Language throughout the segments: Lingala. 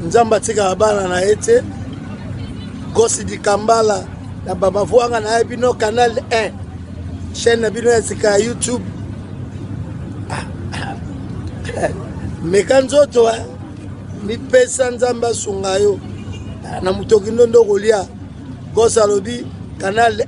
nzambe atikaka bana na ye te gosi dikambala na bamavwanga na ye bino canal 1 chaîne na bino ya sika ya youtube ah, ah. meka nzoto eh. mipesa nzambe asunga yo ah, na motoki ndondo kolia gosi alobi canal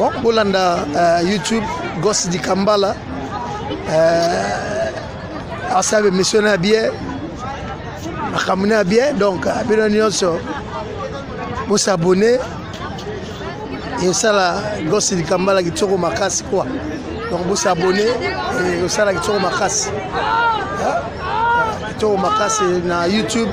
bon bolanda uh, youtube gos dikambala uh, eh, asabe misio na bie makambo na bie donc eh, bino nyonso bosabone esala gos dikambala kitoko makasi kua donc bosabone osala kitoko makasi kitoko makasi na youtube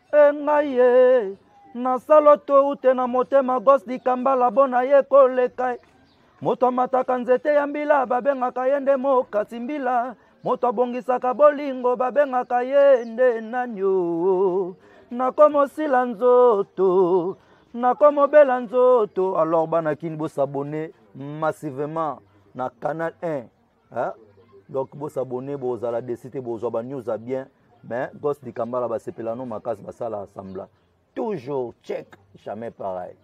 engai ye nasalo toute na motema gos dikambala bona ye koleka moto amataka nzete ya mbila babengaka ye nde mokati mbila moto abongisaka bolingo babengaka ye nde nani o nakomosila nzoto nakomobela nzoto alors bana kini bosabone massivement na canal 1 hein? donc bosabone bozala desi te bozwa banews ya bien mais gos dikambala basepela no makasi basala assembla toujours check jamais pareil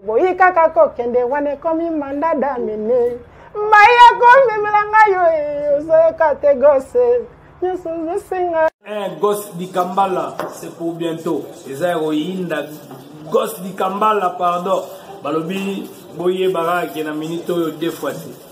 boyi kaka kokende wana ekomi manda damine mai akomemela ngai yo eh, ozoyoka te gose nyonso ozosenga eh, gos dikambala c'est pour bientôt eza ya koyinda gos dikambala pardon balobi boyebaka ke na minute oyo deux fois te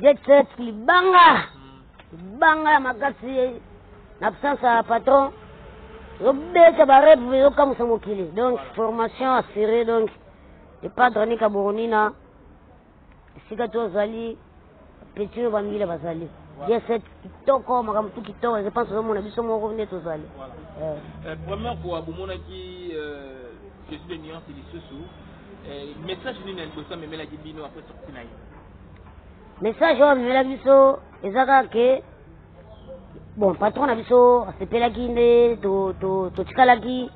Jetset libanga libanga ya makasi na absence ya patron ezobeta bareve ezokamwisa mokili donc formation assurée donc epadre nika boronina esika tozali petino bamile bazali jeset kitoko makambo tu kitoko je pense ozomona biso moko nde tozali eh. eh, première fois bomonaki euh, jesu de nuance lisusu eh, message nini ya liboso amemelaki bino apres sorti na ye message oyo amemela biso eza kaka ke bon patron na biso asepelaki nde totikalaki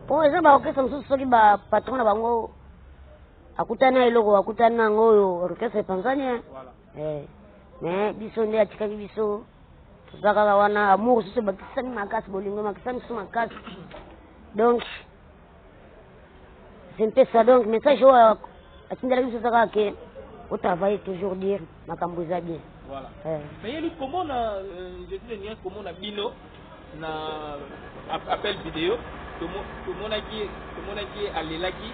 mpo eza baorkestre mosusu soki bapatron na bango akutani na eloko akutani na yango oyo orkestre epanzani eh, mais biso nde atikaki biso toza kaka wana amour susu ebakisami makasi bolingo emakisami susu makasi donc c'est un peu ça donc message oyo atindela biso ezaka ke otravaille toujours dire makambo eza bien voilà eh. mais yeli komona euh, jeudi de nuit komona bino na appel vidéo tomonaki tomonaki alelaki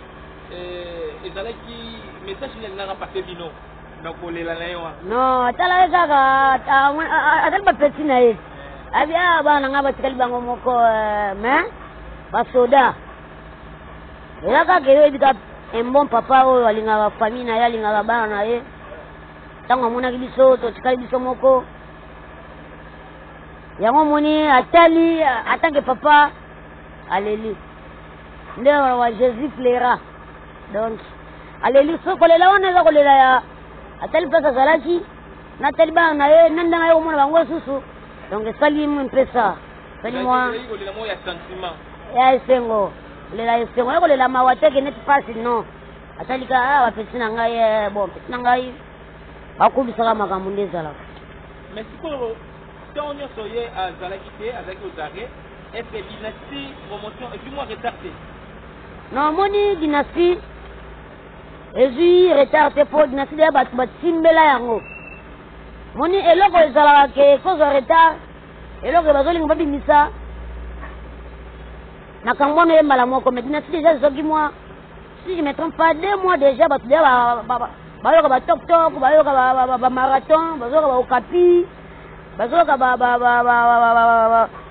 euh, ezalaki message nini alingaka pase bino na kolela na ye wana non tala ye kaka azali bapeti na ye abi a ah, bana ngai batikali bango moko eh, mais basoda eza kaka eyebi ka un bon papa oyo alingaka famille na ye alingaka bana na ye ntango amonaki biso totikali biso moko yango omoni atali atanke papa aleli nde wana wa jésus plaira donc aleli so kolela wana eza kolela ya atali place azalaki natali bana na ye na ndenge aye komona bango lisusu donc esali mwe mpesa esali mwa ya esengo kolela esengo ya kolela mawa te keneti mpasi non atalika ah, bapesi na ngai eh, bon pesi na ngai bakobisaka makambo nde ezalaka mais sikoyo ntango nyonso ye azalaki te azalaki ozare est ce que dynastie promotion epuis mwa retard te Na moni dynastie ezui retard te po dynastie deya batu batimbela yango moni eloko ezalaka ke ekozwa retard eloko bazolinga babimisa makambo wana ye mbala moko mais dynastie deja ezoki mwa si je me trompe pas deux mois deja bato deja bayoka batoktok bayoka bamarathon bazoyoka baokapi bazoyoka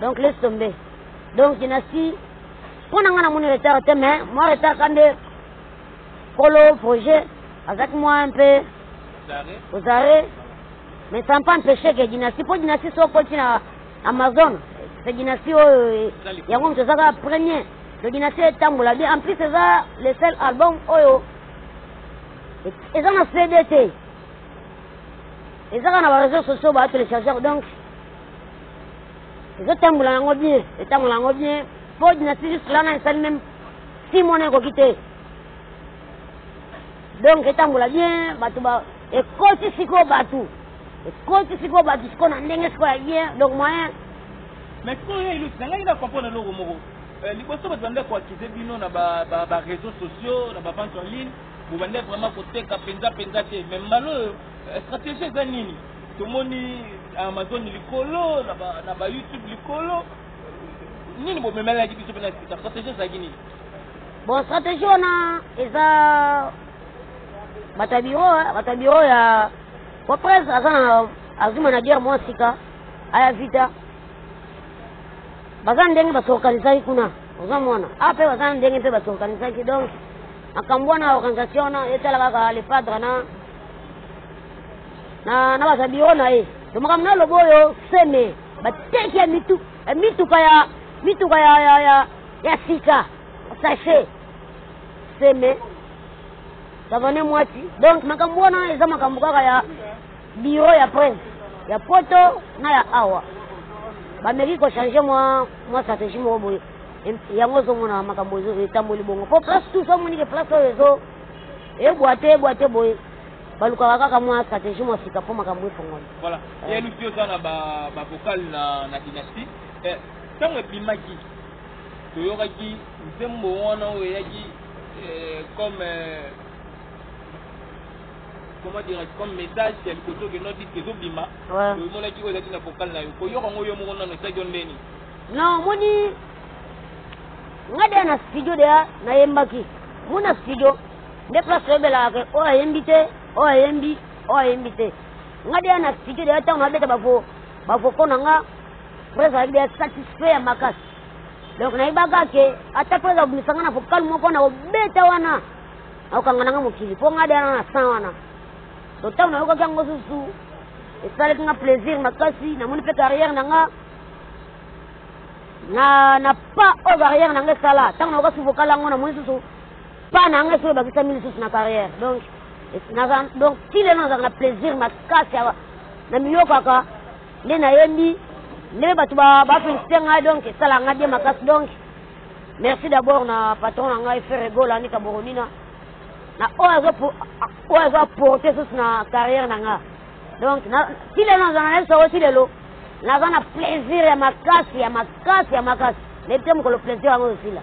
donc laisse tomber donc dinasi mpo na ngai namoni retard te mais mwa retard ka nde kolo projet azalaki mwa un peu aux arrêts mais ça pas empêché que dynastie mpo dynastie so okoti na amazon se dynastie oyo yango moto ezaka premier to dynastie etambola bien en plus eza le seul album oyo eza na cd te ezaka na bareseau sociaux baatelechargeur donc ezotambola yango bien etambola yango bien po dynastie juste lana esali meme si mona ekoki te donc etambola bien bato ba ekoti sikoyo bato ekoti sikoyo bato sikoyo na ndenge sikoyo ya bien donc moyen mais sikoyo ye ilusi na ngai na comprendre eloko moko euh, liboso bato bandaki koakize bino na bareseau sociaux na bavente en ligne bobandaki vraiment koteka mpenza mpenza te mais mbala oyo euh, stratégie eza nini Tomoni Amazon likolo na ba na ba YouTube likolo. Nini bo memelaki biso pena sika strategie ezalaki nini? Bon strategie wana eza bata biro bata biro ya wa presse aza na azwi manager mwa sika aya vita baza ndenge basorganisaki kuna oza mwana ape ah, baza ndenge mpe basorganisaki donc makambo wana organisation wana etala kaka le padre na na na baza biro na ye to makambo na lobo oyo seme bateki ya mitu ya mituka ya mituka ya ya ya, ya sika sachet seme savane mwati donc makambo wana eza makambo kaka ya biro ya prince ya poto na ya awa bameki kochange mwa mwa stratégie moko boye yango ozomona makambo etamboli bongo mpo place tous amonike place oyo ezo ebwate ebwate boye balukaka kaka mwa stratégie mwa sika mpo makambo efongoli voilà eh. ye lusi oza na bavokale na, na dynastie eh, ntango ebimaki toyokaki nzembo wana oyo eyaki eh, comme eh, comment dire comme message ya liboso ke no diske ezobima omonaki oyo ezalaki na vokale na yo koyoka yango yo moko nano esaki yo ndeni na omoni nga deya na studio deya nayembaki mona studio Nde place oyebelaka ke oyo ayembi te, oyo ayembi, oyo ayembi te. Nga deya na cite deya ntango nabeta bavo bavoko na nga mpo ezalaki deya satisfait ya makasi. Donc nayebaka ke ata mpo eza kobimisa nga na vocal moko na kobeta wana nakokanga na nga mokili mpo nga deya na na sang wana. So ntango nayokaki yango susu esalaki nga plaisir makasi, namoni mpe carrière na nga na na pas oyo carrière na nga esala ntango nayoka su vocal yango namoni susu Pas na ngai soki ebakisami lisusu na carrière donc donc ti lelo nazalaka na plaisir makasi namiyokaka nde nayembi nde bato bafelisite ngai donc esalaka ngai bie makasi donc merci d'abord na patron na ngai ferre gola nika boronina na oyo azo apporte susu na carrière na ngai donc ti lelo nazala na lisoko ti lelo naza na plaisir ya makasi ya makasi ya makasi nayebi te mokolo plaisir yango osila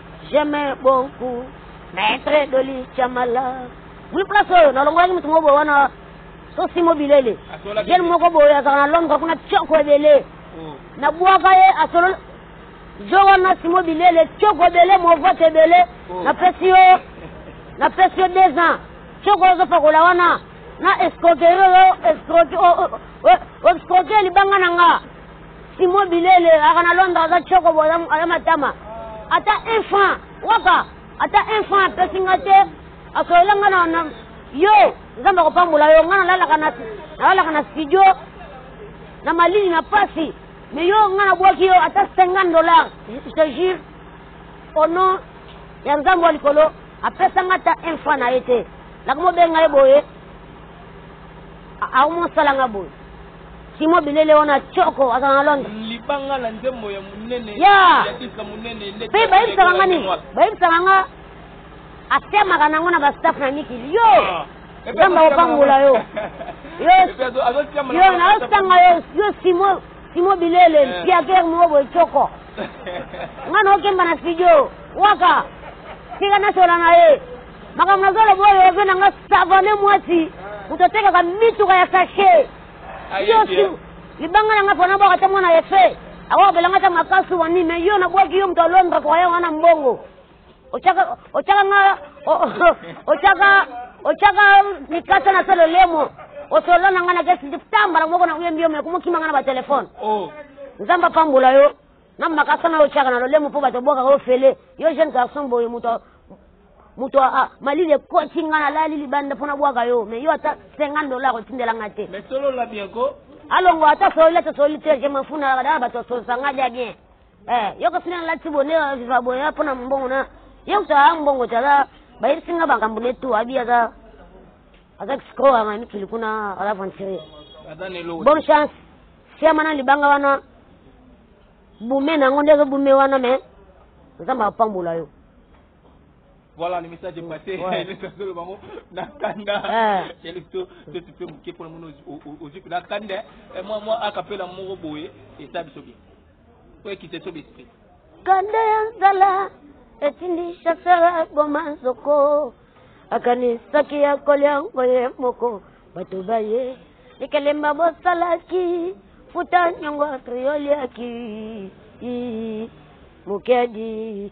J'aime beaucoup Maître Dolly Chamala. Oui, place oyo nalongolaki moto moko boye wana sosi mobilele jeune moko boye azala na londre kuna tioko ebele oh. nabwaka ye asololi jo wana simo bilele tioko ebele movote ebele oh. napesi yo napesi yo deux ans tioko ozopakola wana na escroquerie oyo escroquerie libanga na nga Simon Bilele aka na Londres aza tshoko bo aza matama ata un franc waka ata un franc apesi nga te asolola nga na yo nzambe akopambola yo nga nalalaka na studio na malili na pasi me yo nga nabwaki yo ata 50 dollar je te jure au nom ya nzambe wa likolo apesa nga ata un franc na ye te nakomobenga ye boye aomosalanga boye Simon bilele wana choko aza na Londres. Mm, libanga na nzembo ya munene. Ya. Yadisa munene ndeti. Pe bayebisaka nga nini? Bayebisaka nga atemaka nango na ba staff na Niki. Yo. Ah. Nzambe akopambola yo. Yo. Yo na osanga yo yo Simon Simon bilele eh. mpiaker moko boye choko. Nga na okemba na studio. Waka. Tika nasola na ye. makambo nazoloba oyo ozo na nga savane mwasi moto atekaka mituka ya sashe yosi libanga na nga mpo nabwaka te mwana efe akokabela nga ta makasu wani me yo nabwaki yo moto ya londre koya wana mbongo otyaka nga otyaka otyaka mikasa na se lolemo osolola na nga na kesi tambala moko na oyembi yo me komokima nga na batelefone oh. nzambe apambola yo na makasa na yo otyaka na lolemo mpo bato obwakaka ofele yo jeune garçon boye moto moto ah, malili ekosi nga nalali libanda mpo nabwaka yo mais yo ata 50 dollar otindela nga te mais solola bien ko alongo ata sololi ata sololi te je m'en fous na kadala bato asolisa nga dia bien eh yo kasi na lati bonde viva boya mpo na mbongo na ye kutu aa mbongo te aza bayebisi nga makambo ne tu abi aza aza kisikoyo anga mikili kuna aza aventurier bonne chance siama na libanga wana bume na yango nde ezobume wana me nzambe apambola yo Voilà le message est passé. Ouais. le message de bango na kanda. Ah. Chez le to to tu peux mouke pour le monde aux yeux na kanda. Et moi moi à capella moro boye et ça biso bien. Oye kite to esprit. Kanda ya nzala etindi chasseur aboma nzoko akanisaki ya kolya ngo ye moko bato baye likelemba bosalaki futa nyongo atrioliaki mokedi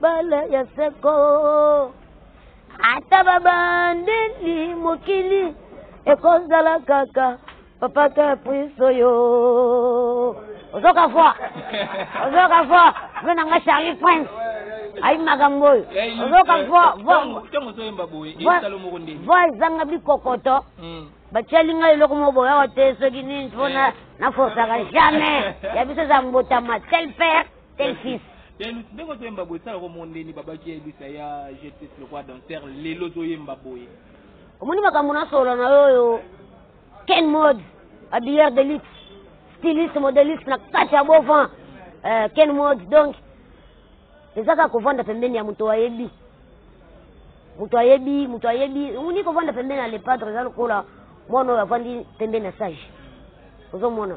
Bala ya seko ata babandeli mokili ekozala kaka papa caprice oyo ozoka voi ozoka voi ve na nga charlie prince ayi makambo oyo ozoka voi ezanga bikokoto hmm. batiali ngai eloko moko boya wa te soki nini mpona eh. naforsaka jamais ya biso eza mbotama tel père Tel fils. Telus ndenge ozo yemba boye sala ko mondeni baba ki elisa ya justice lokwa danser lelo ozo yemba boye omoni makambo na solo na yo oyo ken mode habilleur de luxe styliste modeliste na kati ya beau vent euh, ken mode donc eza kaka kovanda pembeni ya moto ayebi moto ayebi moto ayebi omoni kovanda pembeni ya lepadre eza lokola mwana oyo avandi pembeni ya sage ozomona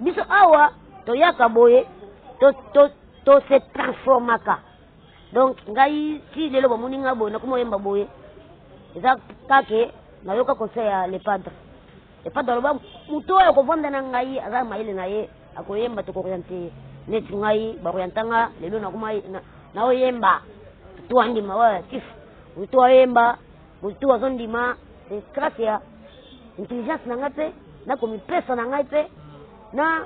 biso awa toyaka boye to, to, to se transformaka donc ngai ti lelo bamoni ngai boye nakoma oyemba boye eza kake nayoka conseil ya le padre le padre aloba moto oyo akovanda na ngai aza mayele na ye akoyemba tokoriente ye neti ngai bakorientanga lelo nakoma naoyemba toandima wa tif toyemba Moto tout azo ndima c'est grâce ya intelligence na ngai pe na komipesa na ngai pe na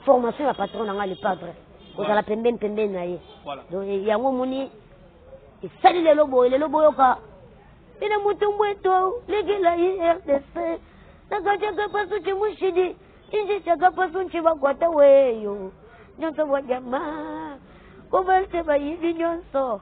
formation ya patron na ngai le padre kozala pembeni pembeni na ye donc yango omoni esali lelo boye lelo boyoka ina mutumbu eto legela ye rdc nakachaka pasu chimushidi inji chaka pasu nchibakwata weyo nyonso bwa jama kobalse bayibi nyonso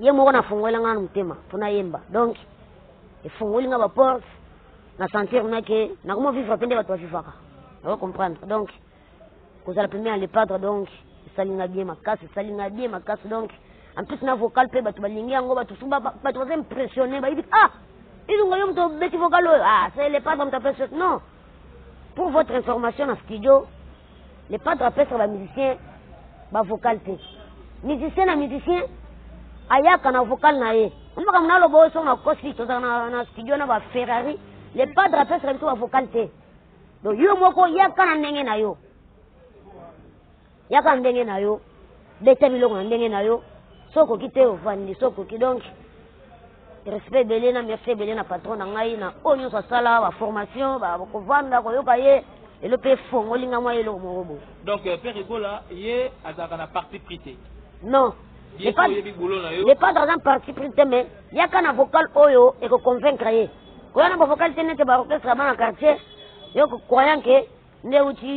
ye moko nafungolela nga na motema mpo nayemba donc efungoli nga baporte na sentir nga ke nakoma vivre mpe nde bato bavivaka nako comprendre donc kozala pembe ya le padre donc esali nga bien makasi esali nga bien makasi donc en plus na vocal mpe bato balingi yango bato mosusu bato baza impressionne bayebi ah ilunga yo moto obeti vocal oyo ah c'est le padre moto apesi non Pour votre information na studio le padre apesaka ba musicien ba vocal te musicien na musicien ayaka na vocal na ye omaka muna aloba oyo songo nakosi tozala na, na studio na ba ferrari le padre apesaka biso ba vocal te donc yo moko yaka na ndenge na yo Yaka ndenge na yo, beta biloko na ndenge na yo, so okoki te ovandi, so okoki donc respect ebele na merci ebele na patron na ngai na oyo nyonso asala baformation bakovanda koyoka ye elo mpe efongoli ngai mwa eloko moko boye donc euh, père ebola ye azalaka na parti pris te non le padre aza parti pris te mais yaka na vocal oyo ekoconvaincre ye koya na bavocal te nete baorchestre ya bana quartier yo croyant ke nde uti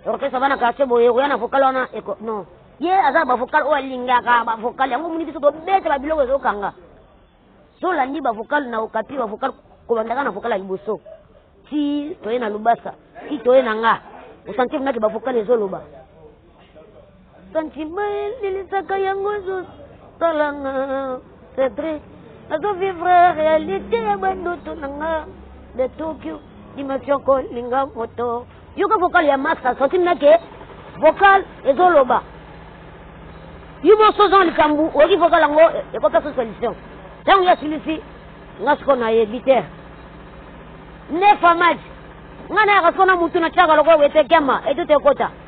orchestre bana quartier boye okoya na vocal wana eko non ye aza bavocal oyo alingaka bavocal yango omoni biso tobeta babiloko ezokanga tolandi bavocal na okapi bavocal kobandaka na vocal ya liboso ti toye na lubasa ti toye na nga osanti monaki bavocal ezoloba Sentiment elilisaka yango ezo salanga c'est vrai nazo vivre réalité ya bandoto na nga de Tokyo dimension kolinga moto yoka vocal ya max asoki nake vocal ezoloba yo moso oza na likambo oyoki vocal yango ekopesa solution ntango yo asilisi nga siko nayebi te nefa maji nga nayaka siko na mutu na tiaka lokola wete kema etuta ekota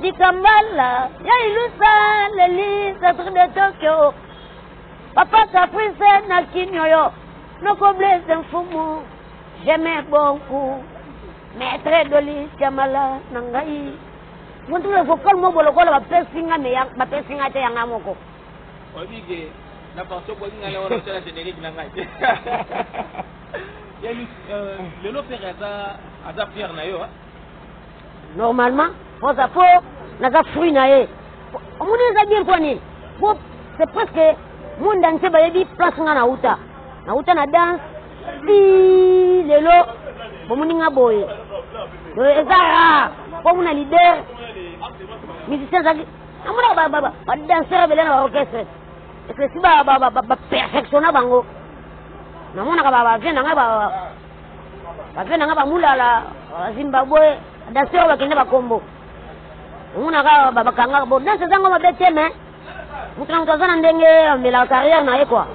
Dikambala ya ilusa leli centre de Tokyo Papa Caprice na Kinyoyo Noko Blaise Mfumu J'aime beaucoup Maître Doli Tiamala na ngai Montuna vocal moko lokola bapesi nga me bapesi nga te yanga moko Obige na partie okoki nga na wana tala générique na ngai Ya euh, lelo père aza aza père na yo hein normalement oza po naza fruit na ye omoni eza bien mpo nini po c'est presque monde entier bayebi place nga nauta nauta na danse ti lelo bomoni nga boye eza rare mpo muna leader musicien ezalaki amonaka badanseur ebele na baorchestre esi baperfectionna bango namonaka bavie na ngai Bape na nga bamulala Zimbabwe danse oyo bakende bakombo omonaka bakanga bo danse ezango mabe te me moto na moto aza na ndenge amelaka carrière na ye kua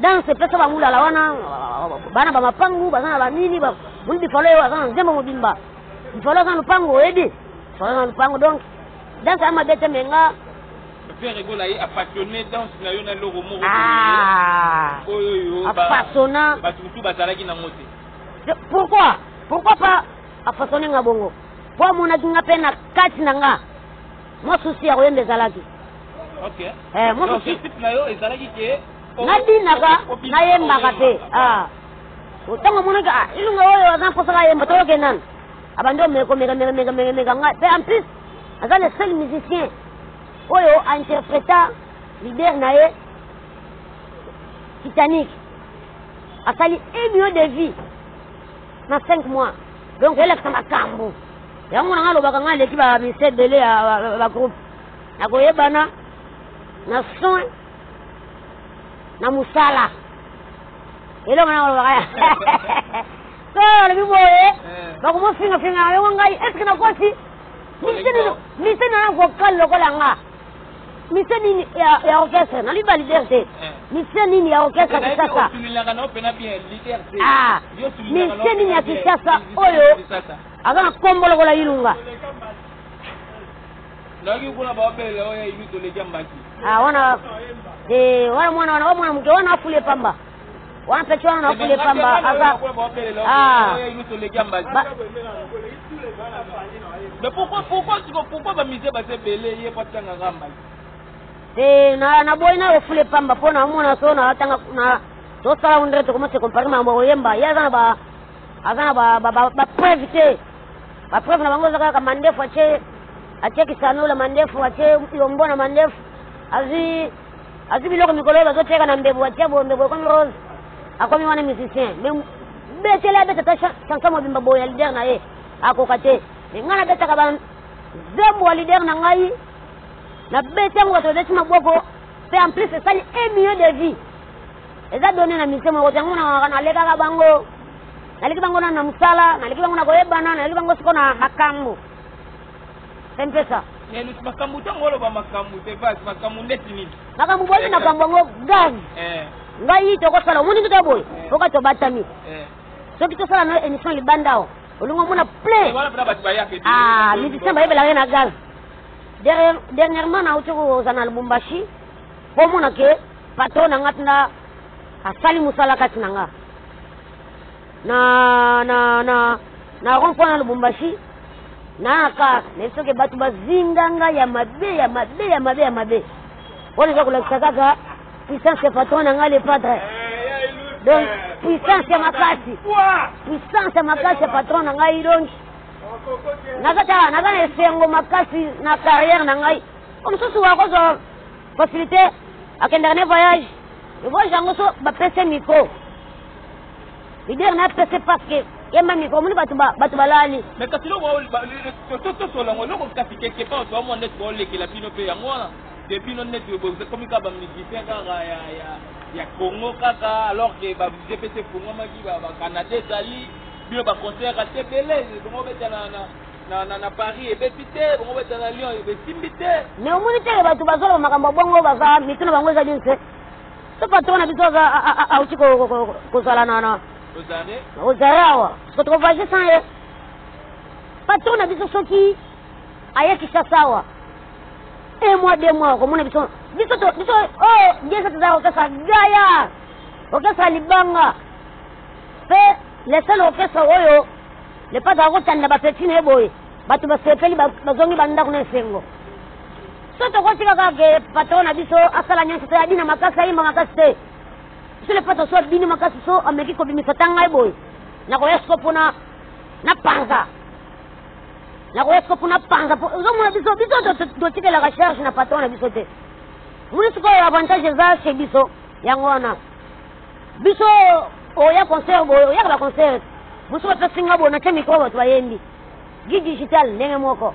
danse epesa bamulala wana bana bamapangu baza na banini moni bifalo oyo aza na nzembo mobimba bifalo aza na lopango oyebi bifalo aza na lopango donc danse ya mabe te me nga Ferre Gola ye apassionne danse na yo na eloko moko ah! boye oyo yo apasonna bato mosusu bazalaki nango te pourquoi pourquoi pas apasonne nga bongo mpo amonaki nga mpe na kati na nga mwa susi ya koyemba ezalaki eh, mwa susi nabinaka nayembaka mpe ah. ntango amonaki ah, ilunga oyo aza mposaka ayemba toyoke nani abandi omeka omeka meka meka meka nga mpe en plus aza le seul musicien oyo a interpreta leader na ye Titanic asali un million de vie na 5 mois donc elakisa makambo yango na ngai alobaka ngai aleki bamisa ebele ya bagroupe na koyebana na soin na mosala eloko na kolobaka so alobi boye bakomofingafinga yango ngai eske nakosi Mise nini? Mise na vocal lokola nga. Mise nini ya, ya orchestre? Na liba leader te. Eh. Mise nini ya orchestre Kinshasa? Ah. Mise nini ya Kinshasa oyo aza na kombo lokola Ilunga? Naki kuna ba bele oyo ibi toleki mbaki. Ah wana eh wana mwana wana mwana mke wana afule pamba. wana peti wana nakule pamba aza ah. mais pourquoi pourquoi pourquoi ba musée baza ebele ye po atanga nga mbala te na na boyi nayo fule pamba mpo na omona so na atanga na tosala ngo ndenge tokomose compare makambo ya koyemba ye aza na ba aza na bapreuve te bapreuve na bango eza kaka mandefu atie atie kisanola mandefu atie yombo na mandefu azwi Azwi biloko mikolo oyo bazoteka na mbebu, atia boye mbebu ekomi rose, akomi wana musicien. Mais betele abeta ta chanson mobimba boye ya leader na ye, akoka te. Mais ngai nabetaka ba nzembo ya leader na ngai, nabeti yango bato babeti maboko, mpe en plus esali un milieu de vie. Eza donne na musicien moko te, yango na nalekaka bango, naleki bango na na mosala, naleki bango na koyebana, naleki bango siko na makambo. mpesa nelus makambo ntango oloba makambo te bas makambo ndeti nini makambo boni makambo yango gani eh. ngai tokosala omoni ndika boye eh. oka tobatami eh. soki tosala na émission libanda awa olingi omona plein ah, musicien bayebelaka ye na gaz dernièrement nauti koza na lubumbashi mpo omona ke patron na ngai ntina asali mosala kati na ngai na na na na rond point na lubumbashi na car nayebi soki bato bazinga ngai ya mabe ya mabe ya mabe ya mabe wana eza kolakisa kaka puissance ya patron na ngai le padre donc puissance ya makasi puissance ya makasi ya patron na ngai donc nakata naza na esengo makasi na carrière na ngai o mosusu wakozwa facilité akendaka ne voyage voyage yango so bapese micro Leader na pese parce que ye mami ko moni batu ba batu balali. Mais kasi loko to to sola ngo loko kasi quelque part to amone to olekela bino pe yango wana. De bino net yo bozo komi ka ba musicien ka ya ya ya Congo kaka alors que ba musicien pe se fungo maki ba ba Canada ezali bino ba concert ka te belé bongo beta na na na na na Paris ebeti te bongo beta na Lyon ebesimbi te. Mais omoni te batu bazolo makambo bongo baza mituna bango ezali nse. Ce patron na biso auti kozala na ozare awa soki tokovoyage sans ye patron na biso soki aye kishasa awa un mois deux mois okomona biso biso biso oyo biesa tozala kokesa gaya kokesa libanga mpe le seul orchestre oyo le patre akotanda bapeti na ye boye bato basepeli bazongi bandako na esengo so tokotika kaka ke patron na biso asala nyonso te abina makasi ayemba makasi te sele patron so abini makasi so ameki kobimisa ta ngai boye nakoya siko mpona na panza nakoya siko mpona panza ozomona biso biso totikelaka charge na patron na biso te moni sikoyo avantage eza chez biso yango wana biso oya concert boye oyaka baconcert mosusu bapesi nga boye natya mikro bato bayembi gi digital ndenge moko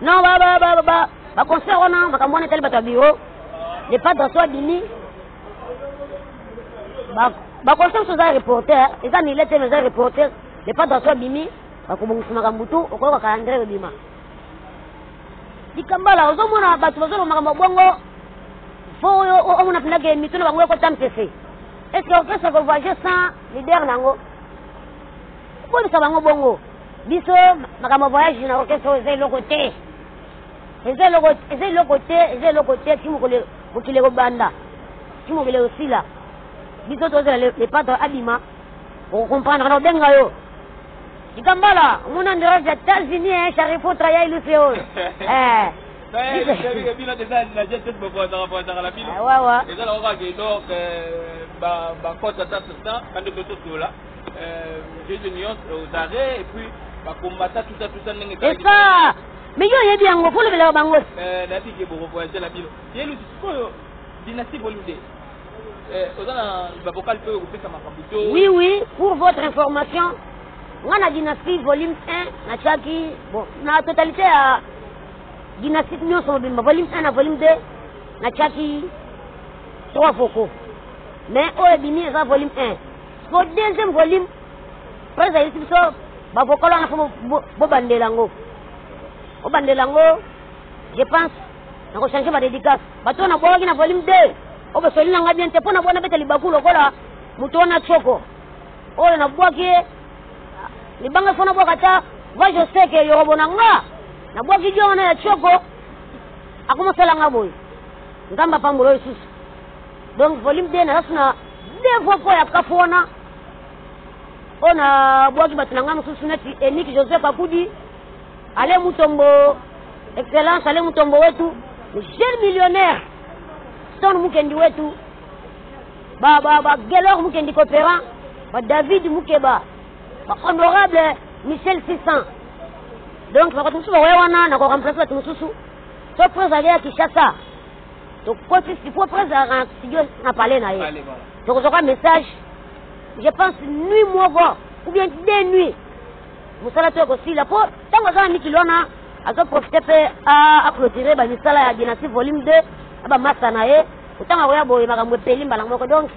Non ba ba ba ba ba concert wana makambo wana etali bato ya bureau le padre so abimi ba concert so eza reporter eza mile te mais eza reporter le padre so abimi bakobongisa makambo tu okoyoka calendrier ebima likambala ozomona bato bazoloba makambo ya bongo fo oyo omona mpendake mitu na bango ekota mpese est ce que orchestre kovoyage sans leader na yango okolisa bango bongo biso makambo voyage na orchestre oyo eza eloko te eza eloko eza eloko te eza eloko te ti mokolo mokili ekobanda ti mokili ekosila biso tozela lepato abima okokomprendre na obenga yo likambala omona nderage ya etats-unis e eh, charifotra ya ilusi oyo eh. wawa mais yo oyebi yango mpo olobelaka bango oui oui pour votre information nga na dynastie volume 1 natyaki bon na totalité ya dynastie nyonso mobimba volume 1 na volume 2 natyaki trois vocaux mais oyo ebimi eza volume 1 Po deuxième volume Prince ayebisi biso ba vocal wana fo bobandela yango bobandela yango je pense nako changer ba dédicace bato wana bwakaki na volume 2 oyo basoli na ngai bien te mpo na bwana beta libaku lokola moto wana tsoko oyo nabwaki ye libanga fo nabwaka ata va je sais ke yorobo na nga nabwaki dio wana ya tsoko akomasala nga boye nzambe apambola oyo lisusu Donc volume 2 naza suna deux fois mpo ya kafu wana oyo nabwaki bato na ngai mosusu neti eniki joseph akudi ale mutombo excellence ale mutombo wetu jeune millionnaire stone mukendi wetu bagelor mukendi coopérant badavid mukeba bahonorable michel 600 donc bato mosusu bakoya wana nakoremplace bato mosusu so prince ageya kinshasa tokoti sikoyo prince azalaka na studio na palais na ye tokozwa kwa message je pense nuit moko ou bien deux nuit mosala to ekosila mpo ntango aza na mikili wana azoprofite mpe aclotire bamisala ya dynastie volume 2 na bamasa na ye ntango akoya boye makambo epeli mbala moko donc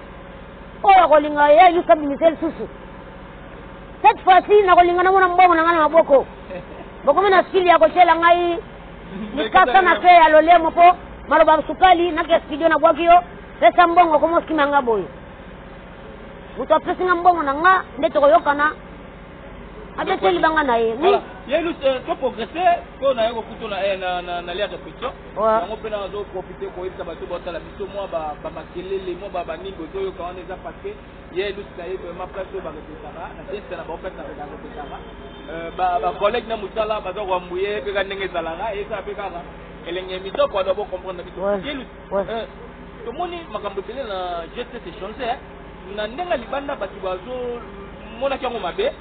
oyo akolinga ye ayusa bimise lisusu cette fois-ci nakolinga namona mbongo na ngai na maboko bokomi na sili ya kotyela ngai Likasa na pe ya lolemo po maloba sukali na ke studio na bwaki yo pesa mbongo komo sima nga boye moto apesi nga mbongo na nga nde tokoyokana abete libanga na ye oui yelu eh, to progresse mpo na ye kokuto na eh, lia réflexion yango mpe nazo profite koyebisa bato baotala biso mwa bamakelele mwa baningo ezoyoka wana eza parce que Ye Lusi na ye vraiment place oyo bakopesaka na fiesta na bango place na kaka kopesaka ba collègue na mosala baza koambuye mpe ka ndenge ezalaka ezala mpe kaka elenge mitoko wana bo comprendre biso ye Lusi tomoni makambo ebele na geste se change na ndenge libanda bato bazomonaki yango mabe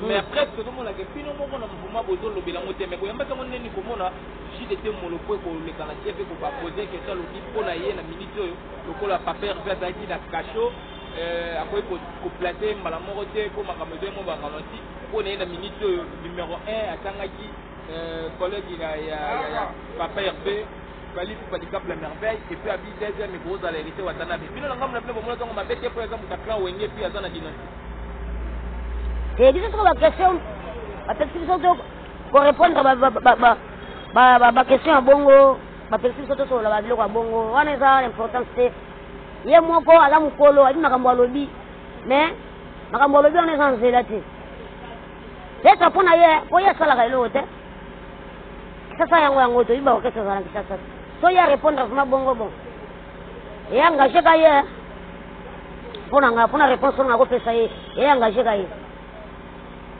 mais après tozomonaka bino moko na mouvement bozolobela yango te mais koyambaki yango ndeni komona jide te moloko ekoleka na te mpe kopapose kesa alobi mpo na ye na miniti oyo lokola papa herve azalaki na cachot euh, akoki koplace mbala moko te mpo makambo ezali mo baralentir mpo na ye na minute oyo numero 1 atangaki euh, collègue ya papa herve balifu badikable ya merveille epuis abi deuxième ekozala hérité watanabe bino na ngambo na bino bomona ntango mabe te mpo aza moto ya clan wenge epuis aza na dinasti e biso soko baquestion bapesi biso to korépondre baquestion ya bongo bapekisi biso tosolola babiloko ya bongo wana eza na importance te ye moko aza mokolo ayebi makambo alobi mais makambo alobi wana eza nzela te esa mpo na ye mpo ye asalaka eloko te kisasa yango yango toyebi baorkestre ezala na kisasa te so ye arépondre vraimen bongo bon eye engage ka ye mpo na ngai mpo na réponse oyo nakopesa ye eye engage ka ye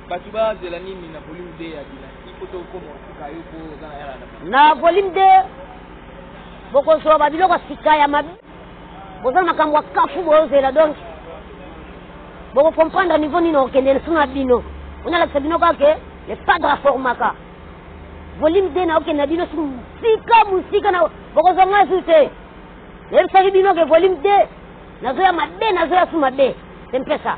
Batu ba zela nini na volume 2 ya dynastie po to koma suka yo po za na yala na. Na volume 2 boko so ba biloko sika ya mabe. Boza makambo ya kafu bo zela donc. Boko comprendre niveau nini okende na suna bino. On a la sabino ka ke le padre formaka. Volume 2 na okende bino sika musika na boko zo ngasu te. Yebisaki bino ke volume 2 nazoya mabe nazoya su mabe. C'est un peu ça.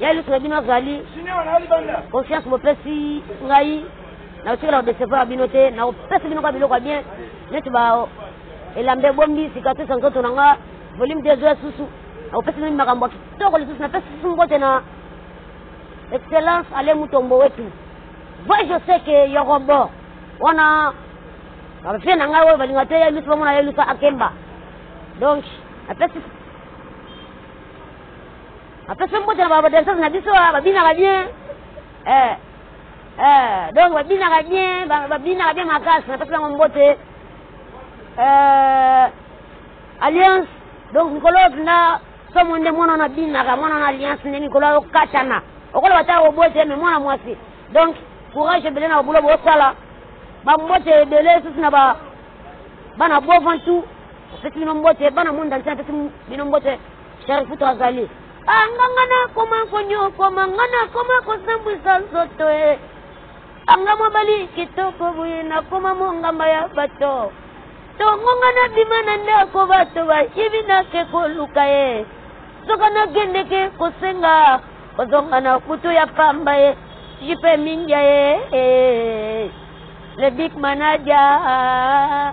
Ya liso na bino azali confiance bopesi ngai nakotikala kodecevoir bino te nakopesa bino kwa biloko ya bien neti ba elamba ebombi cicatrice ya nzoto na nga volume des oeufs susu nakopesa bino makambo ya kitoko lisusu napesi susu mbote na excellence ale mutombo wetu voi je sais que yorobo wana bapie na ngai oyo balinga te yelusi bamona yelusa akemba donc napesi Apesa mbote na ba danseurs na biso ah, babinaka bien eh eh donc babinaka bien babinaka bien makasi napesa bango mbote eh alliance donc mikolo oyo mpenza somo nde mwana wana abinaka mwana wana alliance nde mikolo ayo katana okoloba ta obote me mwana mwasi donc courage ebele na babulo bosala bambote ebele lisusu na ba bana bovan tout apesi bino mbote bana monde entier apesi bino mbote Cher Futu azali ah, nga nga nakoma konyokoma nga nakoma kosambwisa nzoto e anga mobali kitoko boye nakoma mongamba ya bato tongo nga nabima na ndako bato bayibi nake koluka ye soka nagendeke kosenga kozonga na kutu ya pamba ye jipe mindia ye eh, eh, eh. le big manager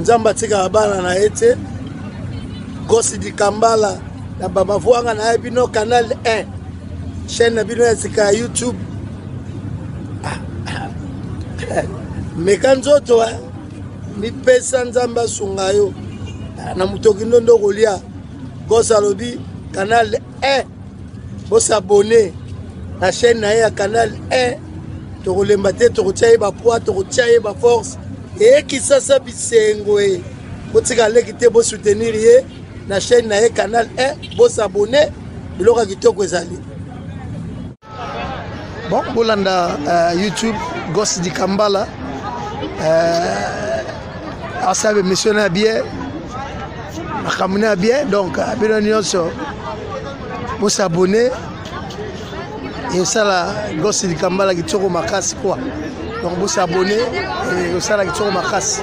nzambe atikaka bana na ye te gosi dikambala na bamavwanga na ye bino canal 1 chaîne na bino ya sika ya youtube meka nzoto eh. mipesa nzambe asunga yo na motoki ndondo okolia gosi alobi canal 1 Bo s'abonner na chaîne na ye ya canal 1 tokolemba te tokotia ye bapoids tokotia ye baforce eye kisasa bisengo e botika leki te bosoutenir ye na chaîne na ye canal 1 bosabone biloko ya kitoko ezali bon bolanda uh, youtube gos dikambala uh, asabe misio na bie makambo na bie donc bino nyonso bosabone esala gosi likambala kitoko makasi kwa donc bosabone osala kitoko makasi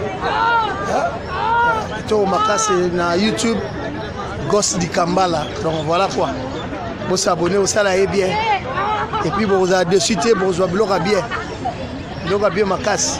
kitoko makasi na youtube gosi likambala donc voilà quoi bosabone osala ye bien epuis bokozala dessus te bokozwa biloko ya bien biloko ya bien makasi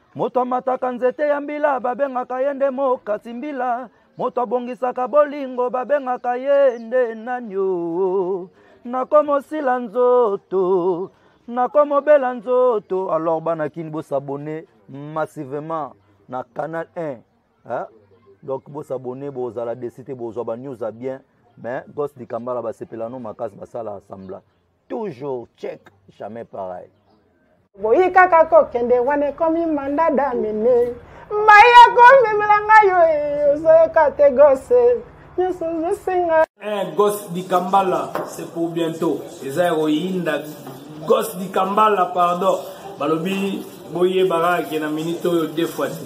moto amataka nzete ya mbila babengaka ye nde mokati mbila moto abongisaka bolingo babengaka ye nde nani o nakomosila nzoto nakomobela nzoto alors bana kini bosabone massivement na canal 1 hein? donc bosabone bozala desi te bozwa banews ya bien mais gos likambala basepela no makasi basala assembla toujours check jamais pareil boyi kaka kokende wana ekomi manda damine mai ya komemela ngai yo ozoyoka te gose nyonso ozosenga eh, gos dikambala c'est pour bientôt eza ya koyinda gos dikambala pardon balobi boyebaka ke na minute oyo deux fois te